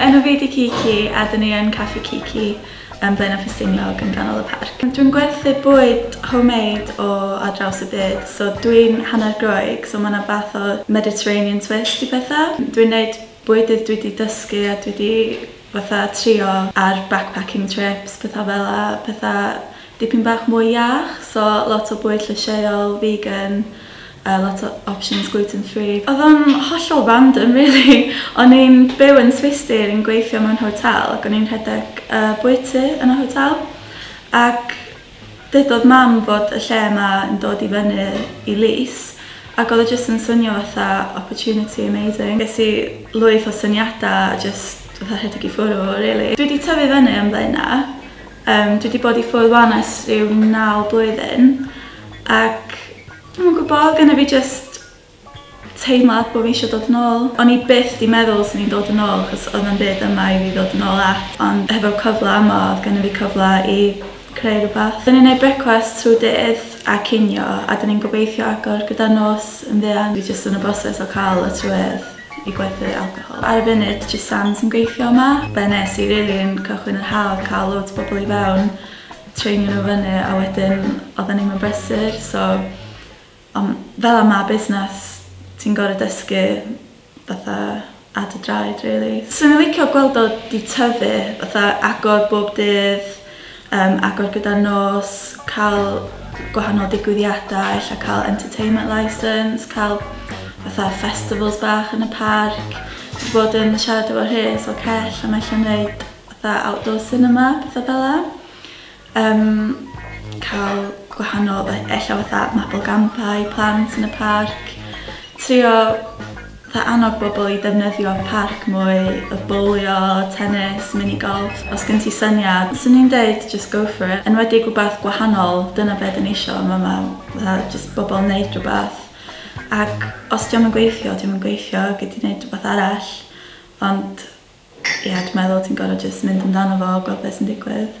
Enw fi 'di Kiki a dyn ni yn Caffi Kiki yn Blaenau Ffestiniog yn ganol y parc. Dwi'n gwerthu bwyd homemade o ar draws y byd, so dwi'n hanner Groeg, so mae 'na fath o Mediterranean twist i petha. Dwi'n wneud bwydydd dwi 'di dysgu a dwi 'di fatha trio ar backpacking trips, petha fel 'na, petha dipyn bach mwy iach so lot o bwyd llysieuol, vegan, a lot o options gluten free. Oedd o'n hollol random rili, o'n i'n byw yn Swistir, o'n i'n gweithio mewn hotel ac o'n i'n rhedeg y bwyty yn y hotel ac dydodd mam fod y lle yma yn dod i fyny i lys ac oedd o jyst yn swnio fatha opportunity amazing. Ges i lwyth o syniadau a jyst fatha rhedeg i ffwrw rili. Dwi 'di tyfu fyny yn Blaenau Yym, dwi 'di bod i ffwrdd 'wan ers rhyw naw blwyddyn ac dwi'm yn gwybod, oedd genna fi jyst teimlad bod fi eisiau dod yn ôl. O'n i byth 'di meddwl 'swn i'n dod yn ôl achos oedd na'm byd yma i fi ddod yn ôl at, ond hefo'r cyfle yma oedd genna fi cyfle i creu rhywbeth. Dan ni'n neud brecwast trwy dydd a cinio a dan ni'n gobeithio agor gyda'r nos yn fuan. Dwi jyst yn y broses o cael y trywerth. i gwerthu alcohol. Ar y funud jyst Sam sy'n gweithio yma. Be nes i rili yn cychwyn yr haf oedd cael loads o bobl i fewn, treinio nhw fyny a wedyn oedden ni'm yn brysur so ond fel yma ma' busnes ti'n gorfod dysgu fatha ar dy draed rili. 'Swn i'n licio gweld o 'di tyfu fatha agor bob dydd Yym agor gyda'r nos, cael gwahanol digwyddiadau, ella cael entertainment licence, cael fatha festivals bach yn y parc. Wedi bod yn siarad efo Rhys o Cell am ella wneud fatha outdoor cinema, pethau fel 'na. Yym cael gwahanol e- ella fatha mabolgampau i plant yn y parc. Trio Fe annog bobl i ddefnyddio parc mwy of bowlio, tennis, mini golf, os gen ti syniad, swn i'n deud just go for it, enwedig rwbath gwahanol, dyna be dan ni isio yn fama, fatha jyst bobl neud rwbath, ac os dio'm yn gweithio, dio'm yn gweithio, gei di neud rwbath arall, ond ia, dwi'n meddwl ti'n gorfod jyst mynd amdano fo, gweld be sy'n digwydd.